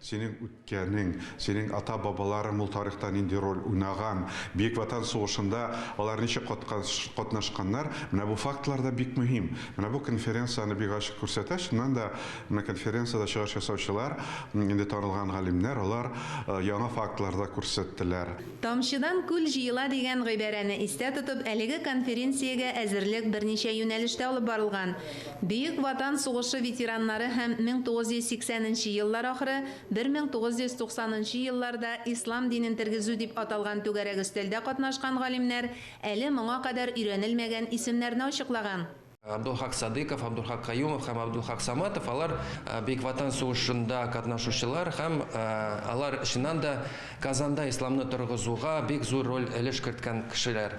Синең үткәнең, синең ата-бабаларың ул тарихта нинди роль уйнаган, Бөек Ватан сугышында алар ничек катнашканнар, менә бу фактлар да бик мөһим. Менә бу конференция аны бик ачык күрсәтә. Чыннан да, менә конференциядә чыгыш ясаучылар, инде танылган галимнәр, алар яңа фактлар да күрсәттеләр. Тамчыдан күл җыела дигән гыйбарәне истә тотып, әлеге конференциягә әзерлек берничә юнәлештә алып барылган. Бөек Ватан сугышы ветераннары һәм 1980 нче еллар ахыры, 1990 нчы елларда Ислам динен тергезү дип аталган түгәрәк өстәлдә катнашкан галимнәр әле моңа кадәр өйрәнелмәгән исемнәрне ачыклаган. Абдулхак Садыйков, Абдулхак Каюмов һәм Абдулхак Саматов, алар Бөек Ватан сугышында катнашучылар һәм алар, чыннан да, Казанда Исламны торгызуга бик зур роль, өлеш керткән кешеләр.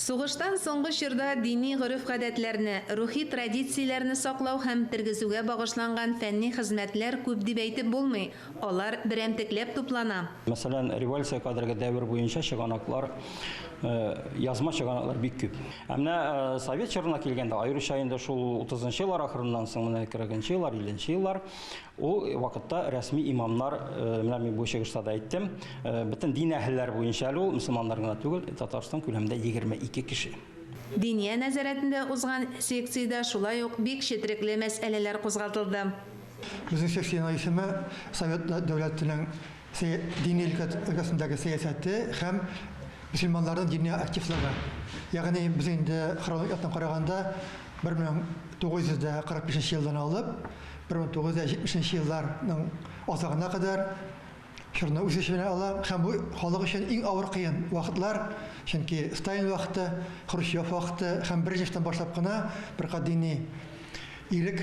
Сугыштан соңгы чорда дини гореф-гадәтләрне, рухи традицияләрне саклау һәм тергезүгә багышланган фәнни хезмәтләр күп дип әйтеп булмый, алар берәмтекләп туплана. Мәсәлән, революциягә кадәрге дәвер буенча чыганаклар, язма чыганаклар бик күп. Ә менә совет чорына килгәндә, аеруча инде шул утызынчы еллар ахырыннан соң, менә кырыгынчы еллар, илленче еллар, Ул вакытта рәсми имамнар, менә мин бу чыгышта да әйттем, бөтен дин әһелләре буенча әле ул мөселманнар гына түгел, Татарстан күләмендә 22 кеше. Диния нәзарәтендә узган секциядә шулай ук бик четерекле мәсьәләләр кузгатылды. Безнең секциянең исеме Совет дәүләтенең дини өлкә өлкәсендәге сәясәте һәм мөселманнарның дини активлыгы. Ягъни без инде хронолик яктан караганда 1945 елдан алып 1970 елларның азагына кадәр чорны үз эченә ала һәм бу халык өчен иң авыр кыен вакытлар, чөнки Сталин вакыты, Хрущев вакыты һәм беренче штамм башлап кына беркат дини ирек